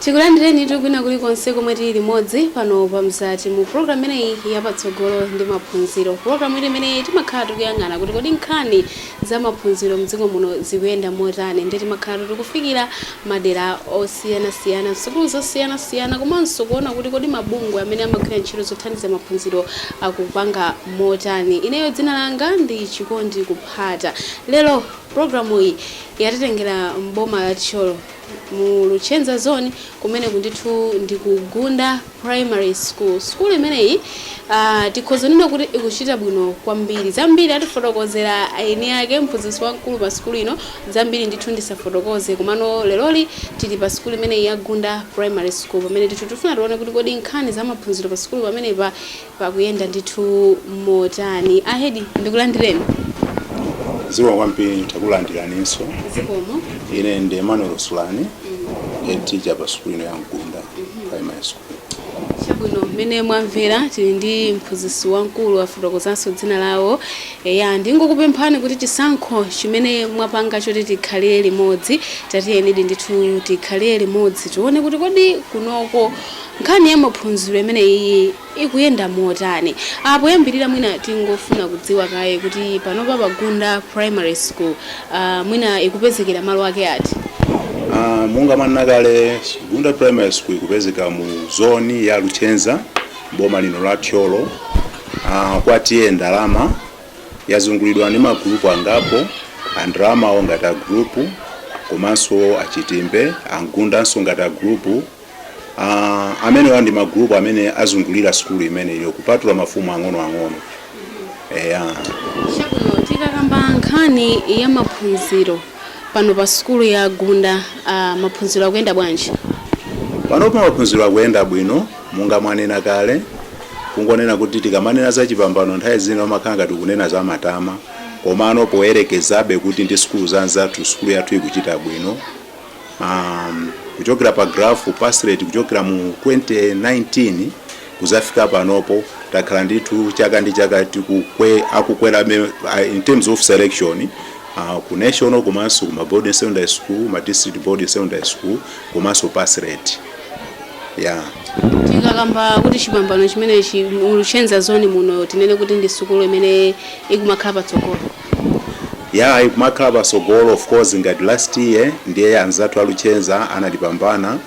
tikulandireni tikwina kuli konse komwe tili limodzi pano pa mzati mu programu imeneyi yapatsogolo ndi maphunziro programu imene timakhala tikuyang'ana kuti kodi nkhani zamaphunziro mdziko muno zikuyenda motani nde timakhalatu tikufikira madera osiyanasiyana, msukulu zosiyanasiyana komanso kuona kuti kodi mabungwe amene amagwira ntchito zothandiza maphunziro akupanga motani. Ineyo dzina langa ndi Chikondi Kuphata. Lero pulogalamuyi yatitengera m'boma la Thyolo mu Luchenza Zone kumeneku ndithu ndi ku Gunda. Primary School. Sukulu imeneyi tikhoza kunena kuti ikuchita bwino kwambiri. Zambiri atifotokozera eni ake, mphunzitsi wamkulu pa sukulu ino. Zambiri ndithu ndisafotokoze, komano leroli tili pa sukulu imeneyi ya Gunda Primary School pamene ndithu tikufuna tione kuti kodi nkhani za maphunziro pa sukulu pamenepa zikuyenda ndithu motani ahedi ndikulandireni zikomo kwambiri takulandiraninso zikomo ine ndi emmanuel sulani head teacher pa sukulu ino ya gunda primary school chabwino mmene mwamvera tili ndi mphunzitsi wamkulu afotokozanso dzina lawo eya ndingokupemphani kuti chisankho chimene mwapanga choti tikhalire limodzi tatiyenidi ndithu tikhalire limodzi tione kuti kodi kunoko Nkhani ya maphunziro imeneyiyi ikuyenda motani? Aaa poyambirira mwina tingofuna kudziwa kaye kuti panopa pa Gunda Primary School aah mwina ikupezekera malo ake ati? Aaa monga mwanena kale Gunda Primary School ikupezeka mu zone ya Luchenza m'boma lino la Thyolo aah kwa T/A Ndalama. Yazungulidwa ndi ma group angapo a Ndalamawo ngati a group komanso a Chitimbe, a Mgundanso ngati a group. Ah, amenewa ndi magulupu amene azungulira sukulu imeneyo kupatula mafumu ang'onoang'ono eya Chabwino tikakamba nkhani ya maphunziro pano pa sukulu ya Gunda ah, maphunziro akuyenda bwanji? panopa maphunziro akuyenda bwino monga mwanena kale kungonena kuti tikamanena za chipambano nthawi zina umakhala ngati kunena za matama komano poyerekezabe kuti ndi sukulu zanzathu sukulu yathu ikuchita bwino um, kuchokera pa graph pass rate kuchokera mu 2019 kuzafika panopo takhala ndithu chaka ndi chaka tikukwe akukwera me- a- in terms of selection uh, ku national komanso ku ma boarding secondary school ma district boarding secondary school komanso pass rate yeah tikakamba kuti chipambano chimenechi mu Luchenza zone muno tinene kuti ndi sukulu imene ikumakhala patsogolo Yaa ikumakhala patsogolo of course ngati last year ndiye anzathu a Luchenza anatipambana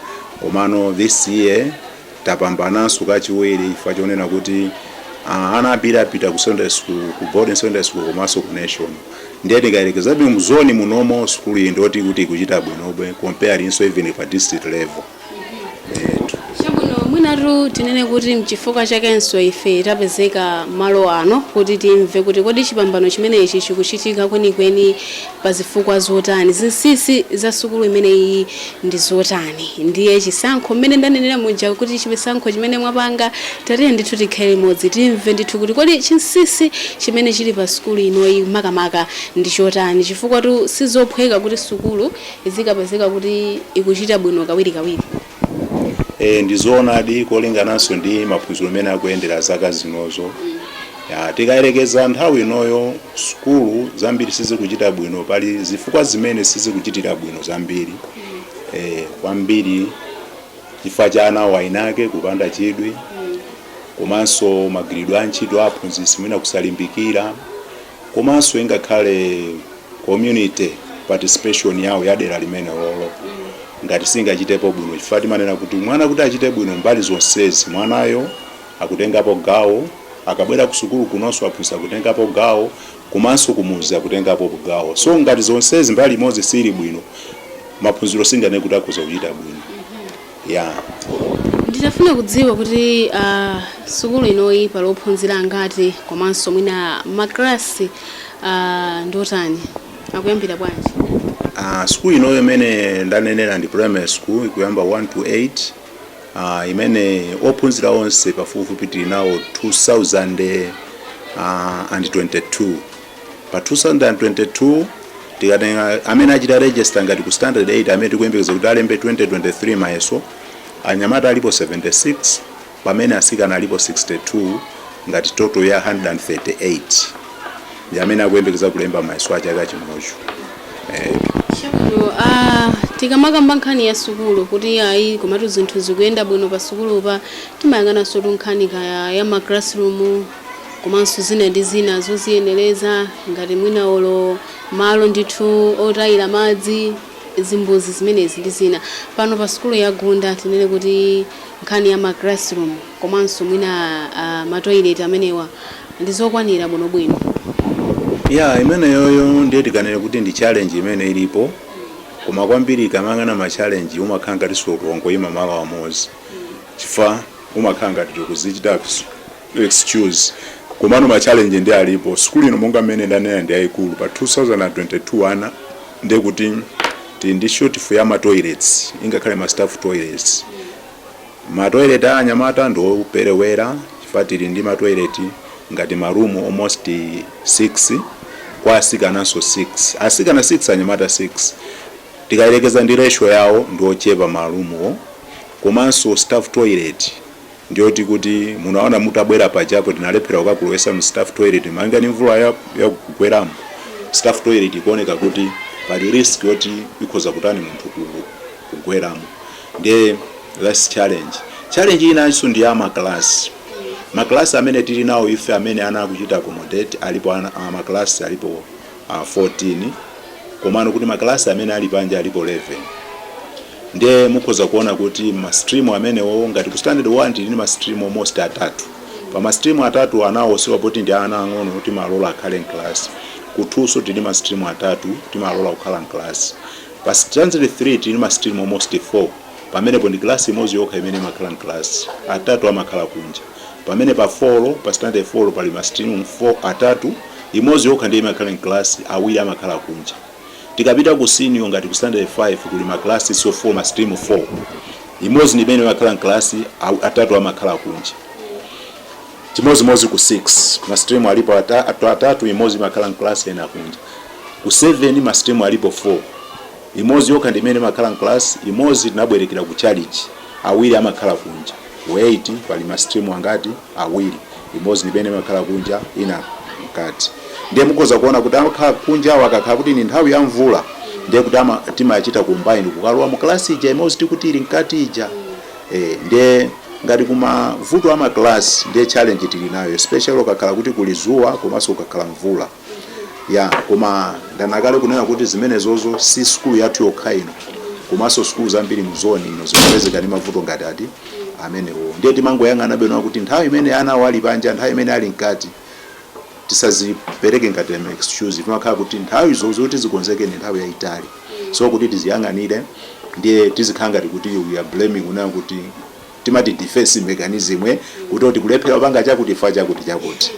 komano this year tapambananso kachiwiri chifukwa chonena kuti uh, ana ambiri apita ku secondary school ku boarding secondary school komanso ku national ndiye tikayerekezabe mu zone munomo sukulu iyi ndoti kuti ikuchita bwinobwe comparinso even pa district level Chabwino, mwinatu tinene kuti n'chifukwa chakenso ife tapezeka malo ano kuti timve kuti kodi chipambano chimenechi chikuchitika kwenikweni pa zifukwa zotani, zinsinsi za sukulu imeneyiyi ndi zotani. Ndiye chisankho, mmene ndanenera muja kuti chisankho chimene mwapanga, tatiyeni ndithu tikhale limodzi timve ndithu kuti kodi chinsinsi chimene chili pa sukulu inoyi makamaka ndi chotani, chifukwatu si zophweka kuti sukulu izikapezeka kuti ikuchita bwino kawirikawiri? E, ndi zoonadi kolingananso ndi maphunziro mmene akuyendera zaka zinozo. Ya, tikayerekeza nthawi inoyo sukulu zambiri sizikuchita bwino, pali zifukwa zimene sizikuchitira bwino zambiri e, kwambiri chifukwa cha ana eniake kupanda chidwi komanso magwiridwe a ntchito a aphunzitsi mwina kusalimbikira. komanso ingakhale community participation yawo ya dera limenelolo ngati singachitepo bwino chifukwa timanena kuti mwana kuti achite bwino mbali zonsezi mwanayo akutengapo gawo akabwera kusukulu kunonso aphunzitsi akutengapo gawo komanso kumudzi akutengapo gawo so ngati zonsezi mbali imodzi siili bwino maphunziro singanene kuti akhoza kuchita bwino. ya. Nditafuna kudziwa kuti a sukulu inoyi pali ophunzira angati komanso mwina ma class a ndiotani, akuyambira bwanji? A sukulu inoyo imene ndanenera ndi primary school ikuyambira 1 to 8, a imene ophunzira onse pafupifupi tili nawo 2022. pa 2022 tikatenga amene achita register ngati ku standard 8 amene tikuyembekeza kuti alembe 2023 mayeso anyamata alipo 76 pamene asikana alipo 62 ngati total ya 138 ndi amene akuyembekeza kulemba mayeso a chaka chinocho eh. Chabwino, ah, tikamakamba nkhani ya sukulu kuti ayi komatu zinthu zikuyenda bwino pa sukulupa timayang'anansotu nkhani kaya ya ma classroom komanso zina ndi zina zoziyenereza ngati mwina olo malo ndithu otayira madzi, zimbuzi zimenezi ndi zina. Pano pa sukulu ya Gunda tinene kuti nkhani ya ma classroom komanso mwina ma toilet amenewa ndi zokwanira bwinobwino? Ya, imeneyoyo ndiye tikanene kuti ndi challenge imene ilipo koma kwambiri ukamayang'ana ma challenge umakhala ngatinso wangoyima malo amodzi chifukwa umakhala ngati tikuzichitaso. excuse komano ma challenge nde alipo sukulu ino monga mmene ndanena ndi yayikulu pa 2022 ana ndiye kuti tili ndi shortfall ya ma toilets ingakhale ma staff toilets ma toilet a anyamata ndi operewera chifukwa tili ndi ma toilet ngati ma room almost 6 kwa asikananso 6 asikana 6 anyamata 6 tikayerekeza ndi ratio yawo ndi ochepa ma roomwo komanso staff toilet ndiyoti kuti munaona mutabwera pajapo tinalephera kukakulowesa mu staff toilet malinga ndi mvula yakugweramo staff toilet ikuoneka kuti pali risk yoti ikhoza kutani munthu kugweramo ndiye that's challenge inanso ndi ya maklasi maklasi amene tili nawo ife amene ana akuchita accommodate alipo uh, maklasi alipo uh, 14 komano kuti maklasi amene ali panja alipo 11 nde mukhoza kuona kuti ma stream amenewo ngati ku standard 1 tili ndi ma stream almost atatu pa ma stream atatu anawo chifukwa poti ndi ana ang'ono timalola akhale mclass ku 2 nso tili ndi ma stream atatu timalola kukhala mclass pa standard 3 tili ndi ma stream almost 4 pamenepo ndi class imodzi yokha imene imakhala mclass atatu amakhala kunja pamene pa 4 pa standard 4 pali ma stream 4 atatu imodzi yokha ndiye imakhala mclass awiri amakhala kunja Tikapita ku senior ngati ku standard 5 kuli ma class so 4 ma stream 4. Imodzi ndi imene imakhala m'class, atatu amakhala kunja. Chimodzimodzi ku 6, ma stream alipo atatu, imodzi imakhala m'class ena kunja. Ku 7 ma stream alipo 4. Imodzi yokha ndi imene imakhala m'class, imodzi tinabwerekera ku tchalitchi, awiri amakhala kunja. Ku 8 pali ma stream angati? awiri. Imodzi ndi imene imakhala kunja ina mkati. Ndiye mukhoza kuona kuti amakhala kunjawa akakhala kuti ndi nthawi ya mvula ndiye kuti timachita combine kukalowa mu class ija imodzi tikuti ili mkati ija. E, ndiye ngati ku mavuto a ma class ndiye challenge tili nayo especially kukakhala kuti kuli zuwa komanso kukakhala mvula. ya koma ndanena kale kunena kuti zimenezozo si sukulu yathu yokha ino komanso sukulu zambiri mu zone ino zimapezeka ndi mavuto ngati ati amenewo ndiye timangoyang'ana bwino kuti nthawi imene anawo ali panja nthawi imene ali mkati tisazipereke ngati ma excuse timakhala kuti nthawi zo zoti zikonzeke ndi nthawi yayitali so kuti tiziyang'anire ndiye tizikhala ngati kuti we are blaming kunena kuti timati defense mechanism kuti oti kulephera kupanga chakuti chifukwa chakuti chakuti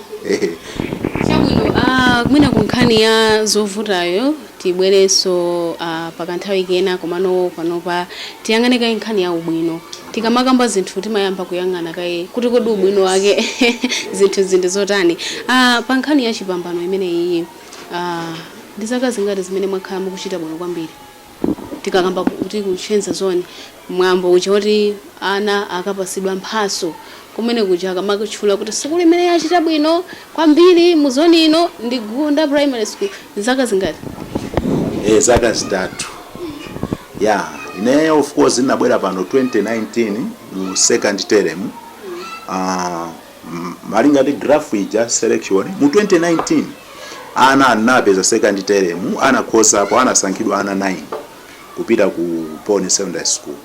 Chabwino, ah, mwina ku nkhani ya zovutayo tibwerenso ah, pakanthawi kena komano panopa tiyang'ane kaye nkhani ya ubwino tikamakamba zinthu timayamba kuyang'ana kaye kuti kodi ubwino wake zinthu ndi zotani ah, pa nkhani ya chipambano imeneyi ah, ndi zaka zingati zimene mwakhala mukuchita bwino kwambiri tikakamba kuti ku Chenza zone mwambo uja oti ana akapasidwa mphatso kumene kuja akamakutchula kuti sukulu imene yachita bwino kwambiri mu zone ino ndi Gunda primary school zaka zingati? Eh zaka zitatu yeah ineyo of course ndinabwera pano 2019 mu second term uh, Malinga ndi graph ija selection mu 2019 ana anapeza second term anakhozapo anasankhidwa ana 9 kupita ku Pone Secondary School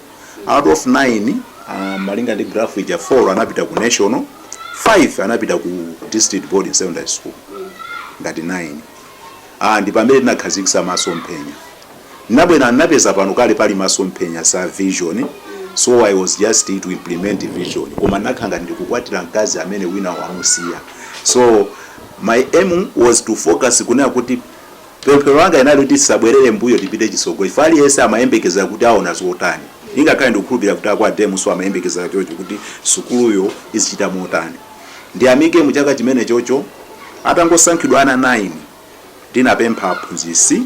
out of 9 uh, malinga ndi graph ija 4 anapita ku national 5 anapita ku district boarding secondary school ngati 9 ah, ndi pamene tinakhazikitsa masomphenya nnabwera nnapeza pano kale pali masomphenya za vision so i was just to implement the vision koma nnakhala ngati ndikukwatira mkazi amene wina wamusiya so my aim was to focus kunena kuti pemphero langa inali kuti tisabwerere mbuyo tipite chitsogolo ifa aliyense amayembekezera kuti aona zotani ingakhale ndikukhulupirira kuti akwa DEM so amayembekezera choncho kuti sukuluyo izichita motani ndiyamike mu chaka chimenechocho atangosankhidwa ana 9 ndinapempha aphunzitsi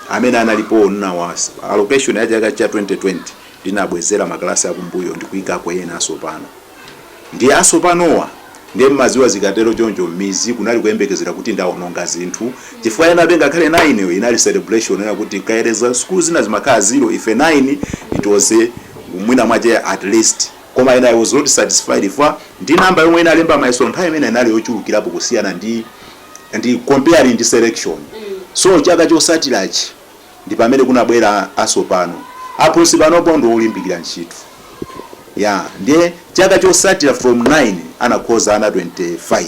amene analipowo nnawa allocation ya chaka cha 2020 ndinabwezera makalasi akumbuyo ndikuika ena asopano ndiye asopanowa ndiye mmadziwa zikatero choncho mmidzi kunali kuyembekezera kuti ndaononga zinthu chifukwa enabe ngakhale 9 yo inali celebration ena kuti kuyerekeza sukulu zina zimakhala zero ife 9 it was a mwina mwache at least koma ena i was not satisfied fa ndi namba yomwe inalemba mayeso nthawi imene inali yochulukirapo kusiyana ndi and comparing ndi selection so chaka chotsatirachi ndipamene kunabwera asopano aphunzitsi panopo ndi olimbikira ntchito yeah ndiye chaka chotsatira from 9 anakhoza ana 25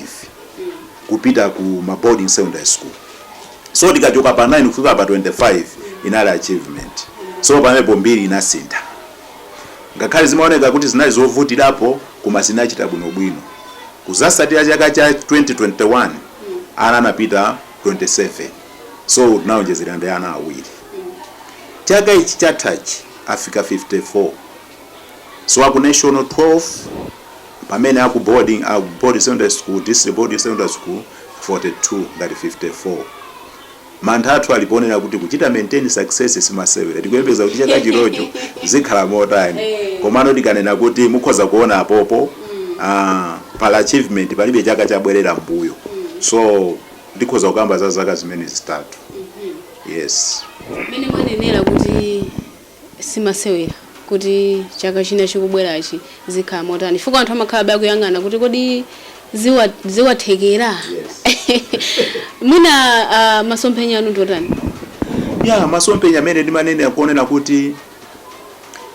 kupita ku ma boarding secondary school so tikachoka pa 9 kufika pa 25 inali achievement so pamenepo mbiri inasintha Ngakhale zimaoneka kuti zinali zovutirapo koma zinachita bwino bwino. Kudzatsatira chaka cha 2021 ana anapita 27 so tinaonjezera ndi ana awiri. Chaka ichi chathachi afika 54 so aku national 12 pamene aku boarding aku boarding secondary school, district boarding secondary school 42 ngati 54. Mantha athu ali ponena kuti kuchita maintain success simasewera. Tikuyembekeza kuti chaka chinocho zikhala motani. Komano tikanena kuti mukhoza kuona apopo aah pali achievement palibe chaka chabwerera mmbuyo. So ndikhoza kukamba za zaka zimenezo zitatu. Yes. Mmene mwanenera kuti. simasewera kuti chaka china chikubwerachi zikhala motani chifukwa anthu amakhalabe akuyang'ana kuti kodi ziwathekera mwina ah, masomphenya anu ndi otani ya masomphenya amene ndimanenera kuonera kuti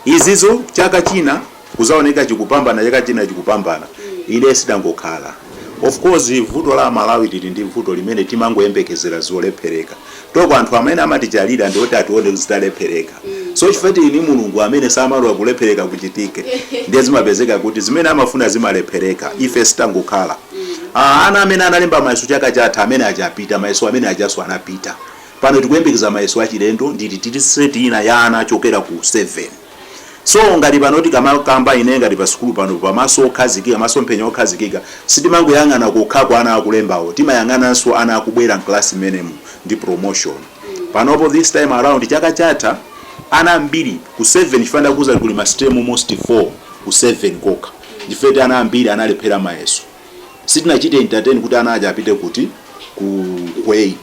izizo chaka china kuzaoneka chikupambana chaka china chikupambana ife sitangokhala of course vuto la a Malawi tili ndi vuto limene timangoyembekezera zolephereka toko anthu amene amatichalira ndi oti atione zitalephereka so chifukwa tili ndi mulungu amene samalola kulephereka kuchitike ndiye zimapezeka kuti zimene amafuna zimalephereka ife sitangokhala Ah, ana amene analemba mayeso chaka chatha amene achapita mayeso amene ajanso anapita pano tikuyembekeza mayeso achilendo nditi tili seti ina ya ana achokera ku 7 So ngati pano tikamakamba ine ngati pa sukulu pano pa maso okhazikika, masomphenya okhazikika, sitimangoyang'ana kokha kwa ana akulembawo, timayang'ananso ana akubwera mklasi mmenemu ndi promotion. Panopo this time around chaka chatha ana ambiri ku 7 chifukwa ndakuuzani kuli ma stream almost 4 ku 7 kokha chifukwa eti ana ambiri analephera mayeso sitinachite entertain kuti ana aja apite kuti ku, ku 8.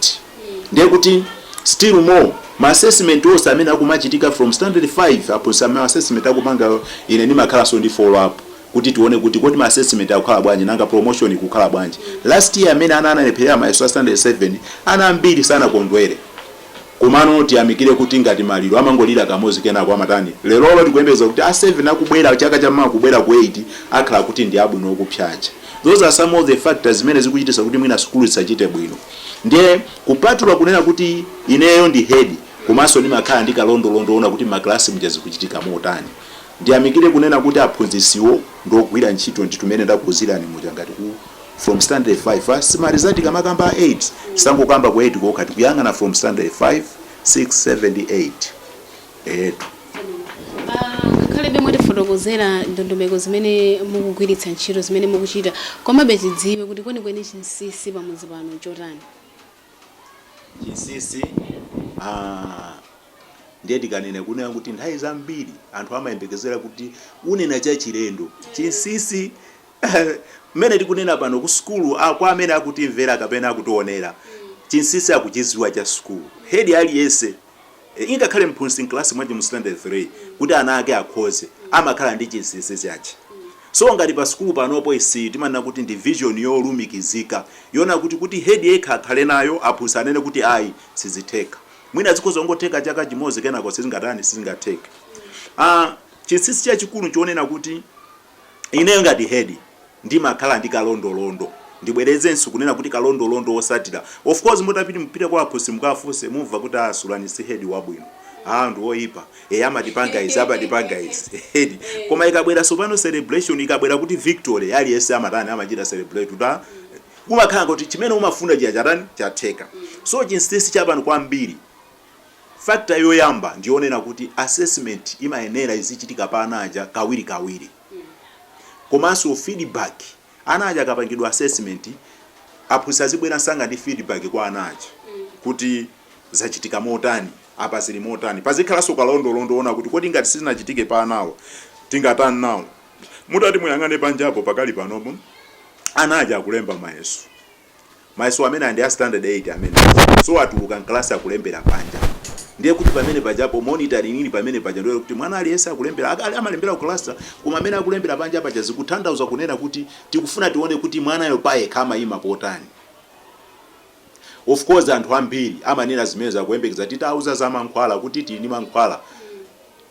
Ndiye kuti still more ma assessment onse amene akumachitika from standard 5 apo so ma assessment akupanga ine ndimakhalanso ndi follow up kuti tione kuti kodi ma assessment akukhala bwanji nanga promotion ikukhala bwanji last year amene ana analephera mayeso a standard 7 ana ambiri sanakondwere komano tiyamikire kuti ngati maliro amangolira kamodzi kenako amatani lerolo tikuyembeza kuti a 7 akubwera chaka cha mawa kubwera ku 8 akhala kuti ndi abwino okupsa aja those are some of the factors zimene zikuchitisa kuti mwina sukulu isachite bwino Ndiye kupatula kunena kuti ineyo ndi head komanso ndimakhala ndi kalondolondo woona kuti ma class muja zikuchitika motani, ndiyamikire kunena kuti aphunzitsiwo ndi ogwira ntchito ndithu mmene ndakuuzirani muja ngati ku from standard 5 asimaliza tikamakamba a 8 tisangokamba ku 8 kokha tikuyang'ana from standard 5, 6, 7 ndi 8. Eetu. Ngakhale be mwatifotokozera ndondomeko zimene mukugwiritsa ntchito, zimene mukuchita, komabe tidziwe kuti kwenikweni chinsinsi pamudzi pano nchotani? Chinsinsi, aah ndiye tikanene kunena kuti nthawi zambiri anthu amayembekezera kuti unena chachilendo. Chinsinsi mmene tikunena pano kusukulu kwa amene akutimvera kapena akutionera, chinsinsi akuchidziwa cha sukulu. Hedi aliyense. Ingakhale mphunzitsi mclass mwache mu standard 3 kuti ana ake akhoze amakhala ndi chinsinsi chache so ngati pa sukulu panopo izi timanena kuti ndi vision yolumikizika yoona kuti kuti head yekha akhale nayo aphunzitsi anene kuti ayi sizitheka mwina zikhoza kungotheka chaka chimodzi kenako sizingatani sizingatheke aah chinsinsi chachikulu nchonena kuti Ineyo ngati head ndimakhala ndi kalondolondo, ndibwerezenso kunena kuti kalondolondo wosatira, of course mutapit mupite kwa aphunzitsi mukawafunse mumva kuti a Sulani si head wabwino, aah ndi woyipa, eeh amatipanga izi amatipanga izi eti, koma ikabwera sopano celebration ikabwera kuti victory aliyense amatani amachita celebrate kuti aah kumakhala ngati chimene umafuna chija chatani chatheka, so chinsinsi chapano kwambiri. Factor yoyamba ndiyonena kuti assessment imayenera izichitika pa ana aja kawirikawiri komanso feedback ana aja akapangidwa assessment aphunzitsi azibwera msanga ndi feedback kwa ana aja kuti zachitika motani apa zili motani pazikhalanso kalondolondo woona kuti kodi ngati sizinachitike pa anawo tingatani nawo. Mutati muyang'ane panjapo pakali panopo ana aja akulemba mayeso. Mayeso amenewa ndi a standard 8 amenewa. So atuluka m'kalasi akulembera panja. Ndiye kuti pamene pajapo monitoring ili pamene paja ndiye kuti mwana aliyense akulembera ak- ali- amalembera ku kalasi koma amene akulembera panja paja zikuthandauza kunena kuti tikufuna tione kuti mwanayo payekha amayima potani. Of course anthu ambiri amanena zimenezo akuyembekeza titauza za mankhwala kuti tili ndi mankhwala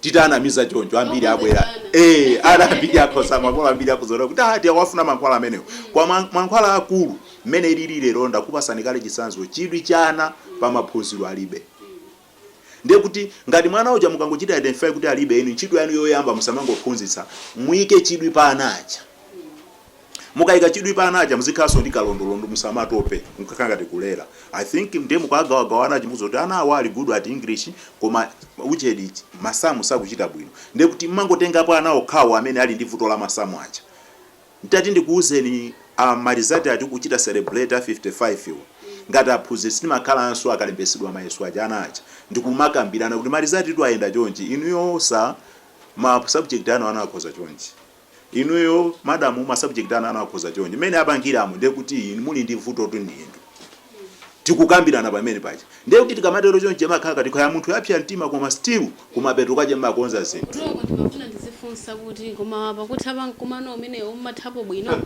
titanamiza choncho ambiri abwera ee ana ambiri akhoza makolo ambiri akhoza ona kuti ati awafuna mankhwala amenewo koma mankhwala aakulu mmene ilili lero ndakupasani kale chisanzo chidwi cha ana pa maphunziro alibe ndiye kuti ngati mwana uja mukangochita identify kuti alibe inu ntchito yanu yoyamba musamangophunzitsa muike chidwi pa ana aja Mukaika chidwi pa ana aja muzikhalanso ndi kalondolondo musamatope mkukhala ngati kulera I think ndiye mukawagawagawa ana aja mukudziwa kuti ana awa ali good at English koma ujeni masamu sakuchita bwino ndiye kuti mmangotengapo ana okhawo amene ali ndi vuto la masamu aja nditati ndikuuzeni marizati a tikuchita celebrate a 55 wo ngati aphunzitsi timakhalanso akalembetsedwa mayeso aja ana aja ndikumakambirana kuti marizatitu ayenda chonchi inuyo sir ma subject anu ana akhoza chonchi. Inuyo madam ma subject anu ana akhoza chonchi mmene apangiramo ndiye kuti inu muli ndi vutotu ndi inu tikukambirana pamene paja ndiye kuti tikamatero chonchi amakhala ngati kaya munthu wapsa mtima koma still kumapeto kwache mmakonza zinthu Mlongo ndimafuna ndizifunsa kuti koma pakutha pa mkumano umenewu mmathapo bwino?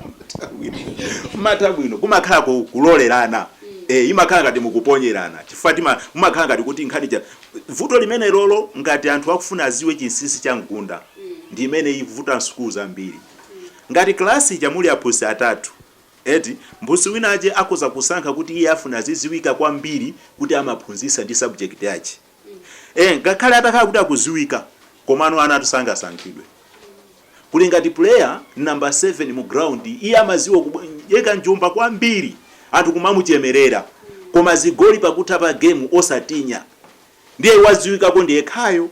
mmatha bwino kumakhala ku kulolerana eh imakhala ngati mukuponyerana chifukwa tima mumakhala ngati kuti nkhani ija vuto limenelolo ngati anthu akufuna adziwe chinsinsi cha Mgunda ndi imene ikuvuta m'sukulu zambiri. Ngati kalasi ija muli aphunzitsi atatu, eti, mphunzitsi winache akhoza kusankha kuti iye afuna azidziwika kwambiri kuti amaphunzitsa ndi subject yache. Eee, ngakhale atakhala kuti akudziwika, komano anatu sangasankhidwe. Kuli ngati player number 7 mu ground, iye amadziwa kuyika njomba kwambiri, anthu kumamuchemerera, koma zigoli pakutha pa gemu osachinya. ndiye waziwikako ndiyekhayo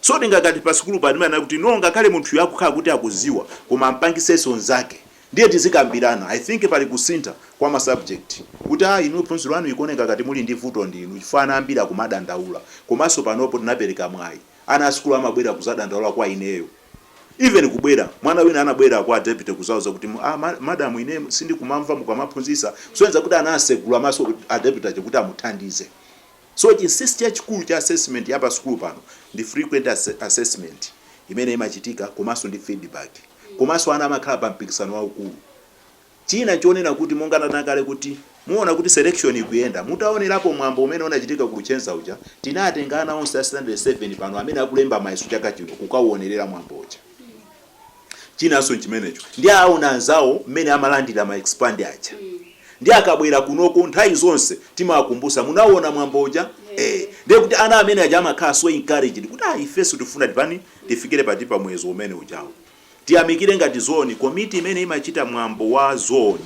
so tingakati pasukulu pano timayenera kuti no ngakhale munthuyo akukhala kuti akuziwa koma ampangisenso nzake ndiye tizikambirana i think pali kusintha kwa ma subject kuti a inu phunziro lanu ikuoneka ngati muli ndi vuto ndi inu chifukwa ana ambiri akumadandaula komanso panopo tinapereka mwayi ana asukulu amabwera kuzadandaula kwa ineyo even kubwera mwana wina anabwera kwa deputy kuzauza kuti ah, madam ine sindikumamva mukamaphunzisa kusonyeza kuti anasegula maso a deputy aja kuti amuthandize So chinsinsi chachikulu cha assessment ya pa sukulu pano ndi frequent assessment imene imachitika komanso ndi feedback komanso ana amakhala pa mpikisano waukulu. China chonena kuti monga ndanena kale kuti muona kuti selection ikuyenda mutaonerapo mwambo umene unachitika ku Luchenza uja tinatenga ana onse a standard 7 pano amene akulemba mayeso chaka chino kukauonerera mwambo uja. Chinanso nchimenecho ndiye aona anzawo mmene amalandira ma expand aja ndiye akabwera kunoko nthawi zonse timawakumbusa munauona mwambo uja ee ndiye kuti ana amene aja amakhala so encouraged kuti aa ifenso tikufuna tipani tifikire pati pa muyezo umene ujawo. Tiyamikire ngati zone committee imene imachita mwambo wa zone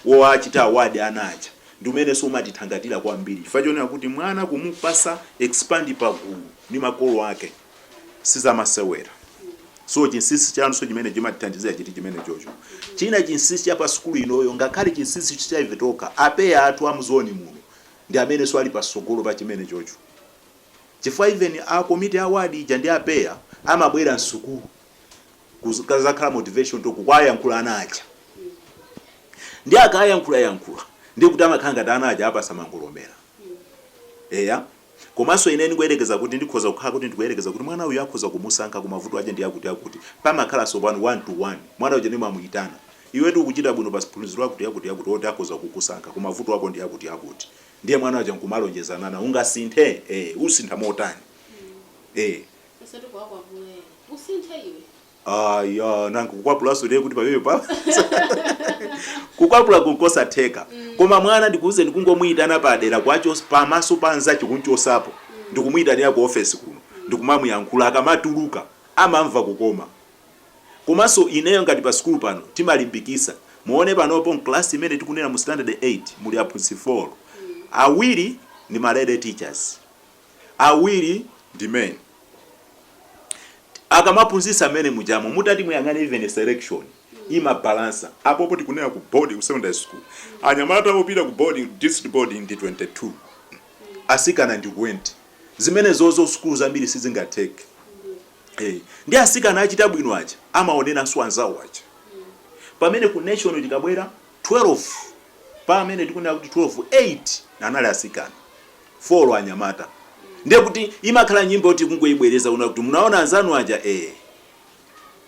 wowachita award ana aja ndi umenenso umatithangatira kwambiri chifukwa chonena kuti mwana kumupasa expand pagulu ndi makolo ake sizamasewera so chinsinsi chanso chimene chimatithandizira chiti chimene chocho china chinsinsi cha pa sukulu inoyo ngakhale chinsinsi cha ife tokha a PEA athu a mu zone muno ndi amenenso ali pasogolo pa chimene chocho chifukwa even a committee award ija ndi a PEA amabwera msukulu kuzakhala motivation talk kukayankhula ana aja ndi akayankhula yankhula ndi kuti amakhala ngati ana aja apasa mangolomera eya Komanso ine ndikuyerekeza kuti ndikhoza kukhala kuti ndikuyerekeza kuti mwana uyu akhoza kumusankha koma mavuto ache ndi akuti akuti. Pamakhala tsopano one to one. Mwana uja ndimamuyitana. Iwetu ukuchita bwino pa phunziro lakuti yakuti yakuti oti akhoza kukusankha koma mavuto ako ndi akuti akuti. Ndiye mwana uja nkumalonjezanana. Ungasinthe? Ee. Usintha motani? Ee. Osati kuwakwapula ena. Usinthe iwe. aya nanga kukwapulanso ndiye kuti pamene pa kukwapulaku nkosatheka koma mwana ndikuuze ndikungomuyitana padera kwacho pamaso pa anzache kumchosapo ndikumuyitanira ku ofesi kuno ndikumamuyankhula akamatuluka amamva kukoma komanso ineyo ngati pa sukulu pano timalimbikisa muone panopo mklasi imene tikunena mu standard 8 muli aphunzitsi 4 awiri ndi ma lady teachers awiri ndi men akamaphunzitsa mmene mujamo mutati muyang'ane even selection imabalansa apopo tikunena ku board ku secondary school anyamata opita ku board district board ndi 22 asikana ndi 20 zimene zozo sukulu zambiri sizingatheke hey. Eh, ndi asikana achita bwino aja amaoneranso anzawo aja pamene ku national tikabwera 12 pamene tikunena kuti 12 8 anali asikana folo anyamata ndiye kuti imakhala nyimbo yoti kungoibwereza kuna kuti munaona anzanu aja ee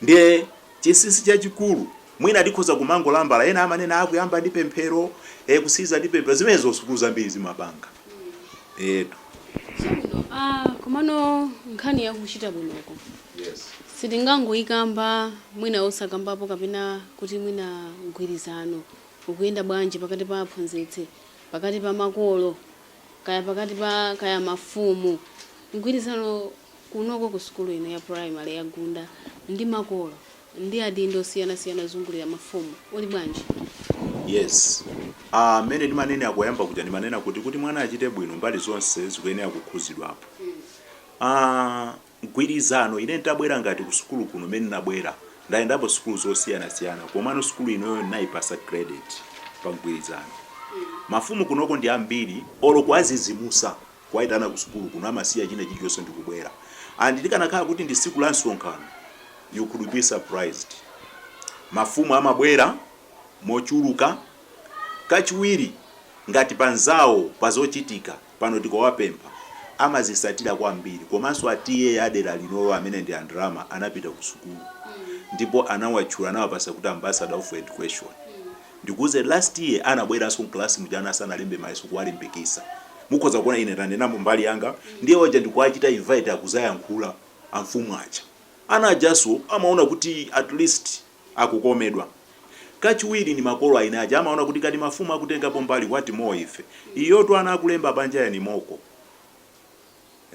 ndiye chinsinsi chachikulu mwina tikhoza kumangolambala ena amanena akuyamba ndi pemphero e, kusiliza ndi pemphero zimenezo sukulu zambiri zimapanga etu Chabwino, ah, komano nkhani yakuchita bwinoko yes. sitingangoyikamba mwina osakambapo kapena kuti mwina mgwirizano ukuyenda bwanji pakati pa aphunzitsi pakati pa makolo kaya pakati pa kaya mafumu mgwirizano kunoko ku sukulu ino ya primary ya Gunda ndi makolo ndi adindo osiyanasiyana ozungulira mafumu uli bwanji Yes. Ah, mene ndimanena koyamba kuja ndimanena kuti kuti mwana achite bwino mbali zonse zikuyenera kukhuzidwapo. Ah, mgwirizano ine ntabwera ngati kusukulu kuno mene nabwera ndayendapo sukulu zosiyana siyana komano sukulu inoyo nnaipasa credit pa mgwirizano mafumu kunoko ndi ambiri olo kuwazizimusa kuwaitana kusukulu kuno amasiya china chilichonse ndikubwera and likanakhala kuti ndi siku la msonkhano you could be surprised mafumu amabwera mochuluka kachiwiri ngati panzawo pazochitika pano tikawapempha amazisatila kwambiri komanso a TA a dela linolo amene ndi a Ndalama anapita ku sukulu ndipo anawatchula anawapasa kuti ambassador of education ndikuuze last year anabweranso m'class muja ana asanalembe mayeso kuwalimbikisa mukhoza kuona ine tanenapo mbali yanga ndiye waja ndikuwachita invite akuzayankhula amfumu aja ana ajanso amaona kuti at least akukomedwa. Kachiwiri ni makolo a ana aja amaona kuti ngati mafumu akutengapo mbali what more ife? Iyotu ana akulemba panjayo ni mock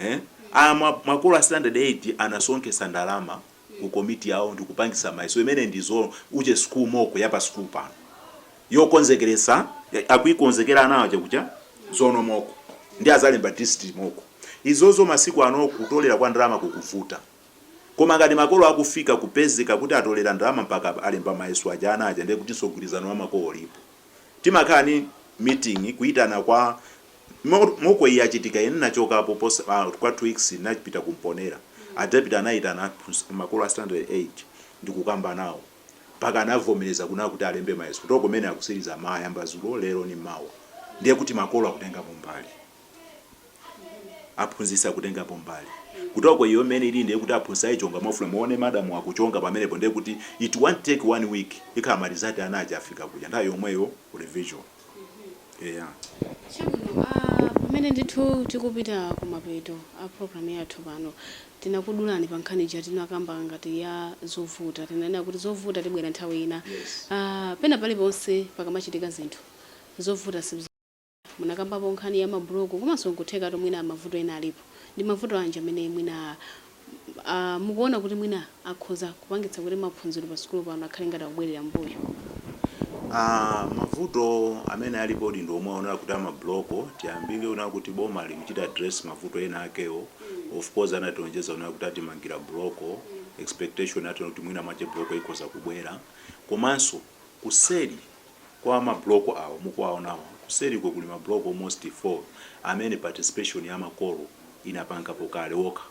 eh? Ama, makolo a standard 8 anasonkhetsa ndalama ku komiti yawo ndikupangitsa mayeso imene ndi zo uje school mock ya pa school pano yokonzekeretsa, akuikonzekera ana aja kuja zonal mock ndiye azalemba district mock izozo masiku ano kutolera kwa ndalama kukuvuta. Koma ngati makolo akufika kupezeka kuti atolera ndalama mpaka alemba mayeso aja ana aja ndiye kutinso mgwirizano wa makolo ulipo. Timakhala ni meeting kuitana kwa mock iyi yachitika ine ndinachokapo kwa two weeks ndinapita ku Mponela a deputy anaitana aphunz makolo a standard 8 ndikukamba nawo mpaka anavomeleza kunena kuti alembe mayeso kutoko mene akusiliza ma ayamba zulo lelo ni mawa ndiye kuti makolo akutengamo mbali. aphunzitsi akutengapo mbali kutoko iyo mene ili ndiye kuti aphunzitsi ayichonga mwafuna muone madam akuchonga pamenepo ndiye kuti it won't take one week ikhala ma result ana aja afika kuja nthawi yomweyo revision yeah Chabwino, ah, pamene ndithu tikupita kumapeto a program yathu pano tinakudulani pa nkhani ija tinakamba ngati ya zovuta tinanena kuti zovuta tibwera nthawi ina Yes. ah, pena paliponse pakamachitika zinthu zovuta si Munakambapo nkhani ya ma block komanso nkuthekatu mwina mavuto ena alipo. Ndi mavuto anji amene mwina aah mukuona kuti mwina akhoza kupangitsa kuti maphunziro pa sukulu pano akhale ngati akubwelera mmbuyo? Aah mavuto amene alipodi ndi omwe aonera kuti a ma block, tiyambire kunena kuti boma likuchita address mavuto ena akewo, of course anatilonjeza kunena kuti atimangira block, expectation yathu inali kuti mwina mwache block ikhoza kubwera. Komanso kuseli kwa ma block awo mukuwaonawa kuseriko kuli ma block almost 4 amene participation ya makolo inapangapo kale okha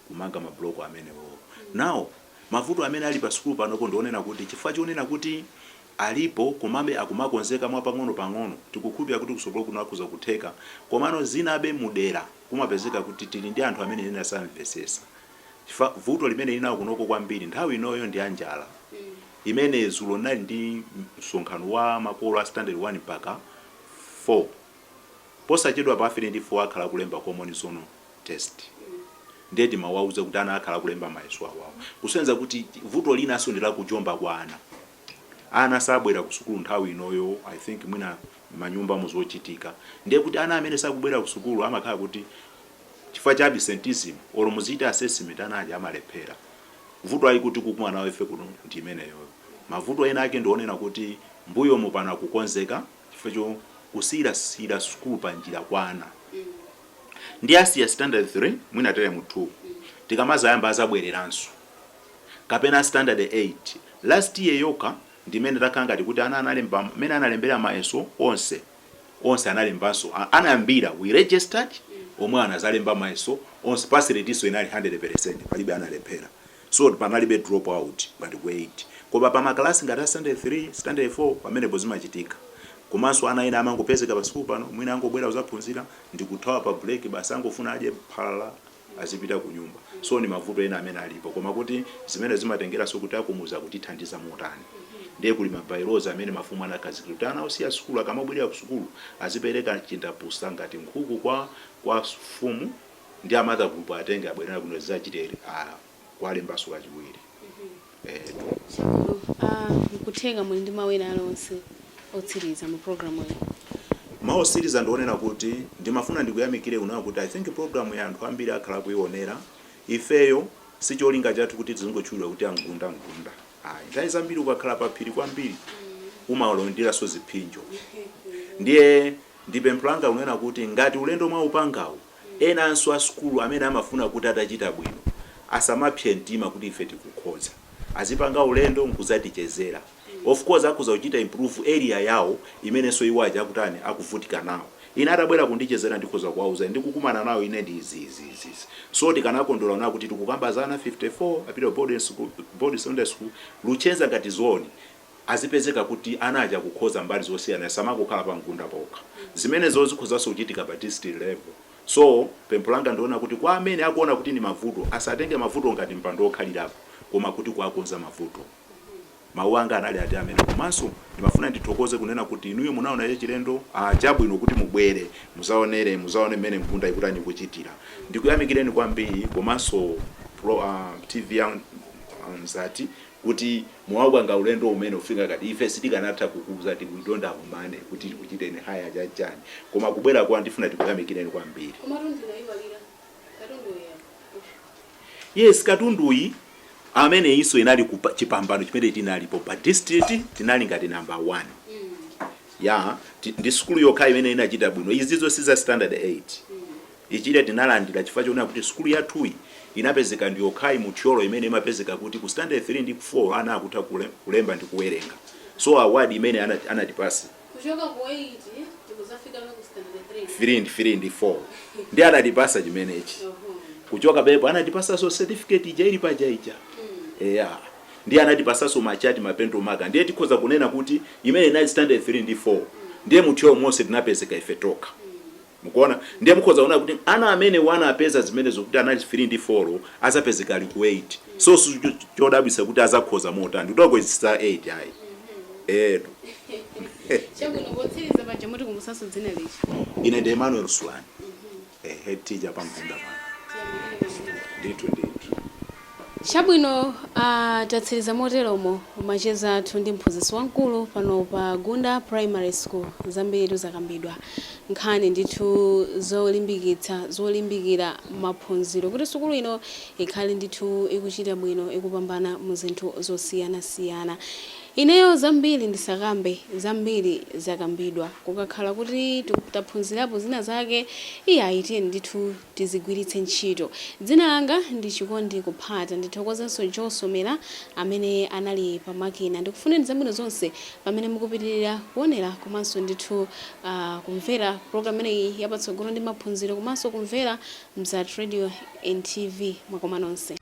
kumanga ma block amenewowo. Now mavuto amene ali pa sukulu panopo ndi onena kuti chifukwa chonena kuti alipo komabe akumakonzeka mwa pang'ono pang'ono tikukhulupirira kuti kutsogolo kuno akhoza kutheka komano zinabe mu dera kumapezeka kuti tili ndi anthu amene ena samvesesa chifukwa vuto limene tili nawo kunoko kwambiri nthawi inoyo ndi ya njala imene zulo nali ndi msonkhano wa makolo a standard 1 mpaka 4 posachedwa pa 3 ndi 4 akhala akulemba common zone test ndiye timawauza kuti ana akhala akulemba mayeso awawo kusenza kuti vuto linanso ndi lakujomba kwa ana ana sabwera ku sukulu nthawi inoyo i think mwina manyumba mu zochitika ndiye kuti ana amene sakubwera ku sukulu amakhala kuti chifukwa cha absenteeism olo muzichita assessment ana aja amalephera vuto ili tikukumana nawo ife kuno ndi imeneyoyo mavuto ena ake ndi onena kuti mbuyomu pano akukonzeka chifukwa cha kusiyirasiyira sukulu pa njira kwa ana ndi asiya standard 3 mwina teremu 2 tikamazayamba azabwereranso kapena standard 8 last year yokha ndimene takhala ngati kuti ana analemba mmene analembera mayeso onse onse analembanso anayambira we registered omwe anazalemba mayeso onse pass rate-nso inali 100% palibe analephera so panalibe drop out ngati ku 8 koma pa makalasi ngati a standard 3 standard 4 pamenepo zimachitika komanso ana ena amangopezeka pa sukulu pano mwina angobwera kuzaphunzira ndikuthawa pa break basi angofuna adye phala azipita kunyumba so ni mavuto ena amene alipo koma kuti zimene zimatengeranso kuti akumuzi akutithandiza motani ndiye kuli ma by-laws amene mafumu anakhazikira kuti ana osiya sukulu akamabwerera ku sukulu azipereka chindapusa ngati nkhuku kwa kwa mfumu ndi a mother gulupu atenge abwerera kuno zachitere kuwalembanso kachiwiri etu Chabwino. Ah, nkutheka muli ndi mawu ena alionse otsiriza mu program iyi. mawu otsiriza ndionena kuti ndimafuna ndikuyamikire kunena kuti i think program iyi anthu ambiri akhala akuionera ifeyo si cholinga chathu kuti tizingotchulidwa kuti amgunda mgunda ayi nthawi zambiri ukakhala pa phiri kwambiri umalandiranso ziphinjo ndiye ndipempho langa kunena kuti ngati ulendo mwaupangawu Enanso a sukulu amene amafuna kuti atachita bwino asamapse mtima kuti ife tikukhoza. Azipanga ulendo n'kudzatichezera. Of course akhoza kuchita improve area yawo imenenso iwo aja akutani, akuvutika nawo. Ine atabwera kundichezera ndikhoza kuwauza ndikukumana nawo ine ndi izi, izi, izi, izi. So tikanakondwera kunena kuti tikukamba za ana 54 apita Boarding Secondary School, Luchenza ngati zone. azipezeka kuti ana aja akukhoza mbali zosiyana samangokhala pa mgunda pokha zimenezo zikhozanso kuchitika pa district level so pempho langa ndi lonena kuti kwa amene akuona kuti ndi mavuto asatenge mavuto ngati mpando wokhalirapo koma kuti kuwakonza mavuto mawu anga anali ati amene komanso ndimafuna ndithokoze kunena kuti inuyo munaona chachilendo ah, chabwino kuti mubwere muzaonere muzaone mmene mgunda ikutani kuchitira ndikuyamikireni kwambiri komanso pro, ah, tv ya ah, mzati kuti mwaupanga ulendo umene ufika ngati ife sitikanatha kukuuzani we don't have money kuti tikuchiteni hire chani chani koma kubwera kwanu tifuna tikuyamikireni kwambiri. Komatu ndinaiwalira katundu uyu apa. Yes katunduyi ameneyinso inali kupa- chipambano chimene tinalipo pa district tinali ngati number 1 ya ti- ndi sukulu yokha imene inachita bwino izizo si za standard 8 Ichi tinalandira chifukwa chonena kuti sukulu yathuyi inapezeka ndiyokhayi mu Thyolo imene imapezeka kuti ku standard 3 ndi 4 ana akutha kulemba ndi kuwerenga so award imene anatipasa, Kuchoka ku 8 tikudzafikabe ku standard 3 ndi 4. 3 ndi 3 ndi 4 ndiye anatipasa chimenechi kuchoka pepo anatipasaso certificate ija ili paja ija eya ndiye anatipasaso ma chart ma pentel marker ndiye tikhoza kunena kuti imene inali standard 3 ndi 4 ndiye mu Thyolo monse tinapezeka ife tokha. Mukuona? Ndiye mukhoza kuona kuti ana amenewo anapeza zimenezo kuti anali 3 ndi 4 adzapezeka ali ku 8. So si chodabwitsa kuti adzakhoza motani kuti takhozetsa 8 ayi. Eetu. Chabwino, potsiriza paja mutikumbutsanso dzina lija. Ine ndi Emmanuel Sulani, a head teacher pa Mgunda pano. Tiyamikire kwambiri. Ndithu ndithu. Chabwino, a, tatsiriza moteromo macheza athu ndi mphunzitsi wamkulu pano pa Gunda Primary School. Zambiritu zakambidwa. Nkhani ndithu zolimbikitsa, zolimbikira maphunziro kuti sukulu ino ikhale ndithu ikuchita bwino, ikupambana mu zinthu zosiyanasiyana. Ineyo zambiri ndisakambe, zambiri zakambidwa. Kukakhala kuti taphunzirapo zina zake, iyayi tiyeni ndithu. tizigwiritse ntchito. Dzina langa ndi Chikondi Kuphata. Ndithokozenso Joe Somera amene anali pa makina. Ndikufunireni zabwino zonse pamene mukupitirira kuonera komanso ndithu kumvera program imeneyi ya Patsogolo ndi Maphunziro komanso kumvera Mzati Radio and TV. Mwakoma nonse.